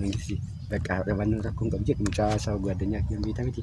Mangisi bakka dhabannoota kun qabu jedhu mucaa isaa oguu addunyaa kiyyan beekta miti.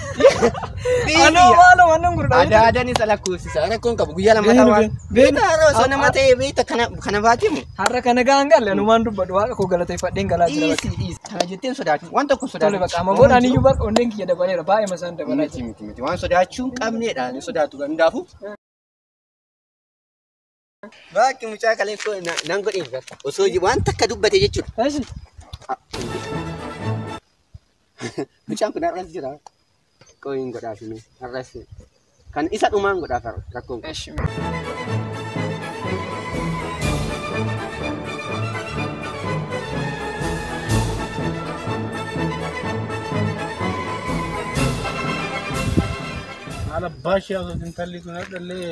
Anoo maaloo annan gurgudha. Ada ada ni salah kursi. Sana kau kamu guyar lama Beenu, tawan. beenu. Beta ro sana mate beta kana kana batim. Har'a kana gahaan galle anumaan dubbadhu waaqa koo galateeffadheen galaa jira. Isi isi. Kana jettin sodaatu. Wan tokko Tole sodaatu. bakka amma booda aniyyuu bar onneen kiyya dabaleera baay'ee masaan dabalaa Miti jira. miti miti. Wan sodaachuu hin qabneedha. Ni sodaatu kan hundaafu. Baakki mucaa kalee koo na- nan godheef bar. Osoo ji- waan takka dubbate jechuudha. Eshi. Mucaan kun har'as jira. Qoy hin godhaafine. Har'as kan isa dhumaan godhaaf har'a rakkoon kun. Eshi. Haala baashii haasofti intalli kun hadhallee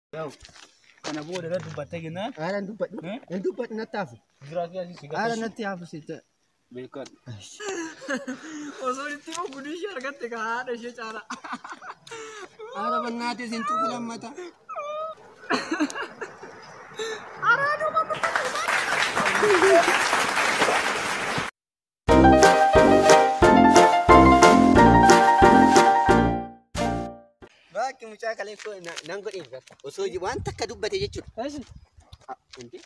Kana booda irratti dubbattee jennaan. Haala hin dubbadhu. Hin dubbadhu natti hafu. Biraa fi asii si Haala gaafachuu. natti hafu si ta'a. Beekan. Osoo itti immoo gudii ishee argatte ka haadha ishee caalaa. Haala bannaatii isin tuqu lammata. Araaduma Baakki mucaa kalee koo na- nan godheef bar. Osoo ji- waan takka dubbate jechuudha. Eeshi. Ah, Hundi.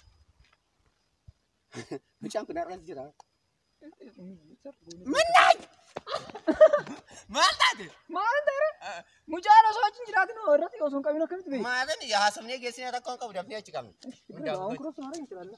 Mucaan kun har'as jira. Mannaan! Maal taate? Maal ta'eera? Mucaan osoo achi hin jiraatin hoo irratti osoo hin qabin akkamitti beeku? Maatiin haasofnee geessine rakkoon qabu dafnee achi qabna. Waan kurooftu maara hin jiraanna.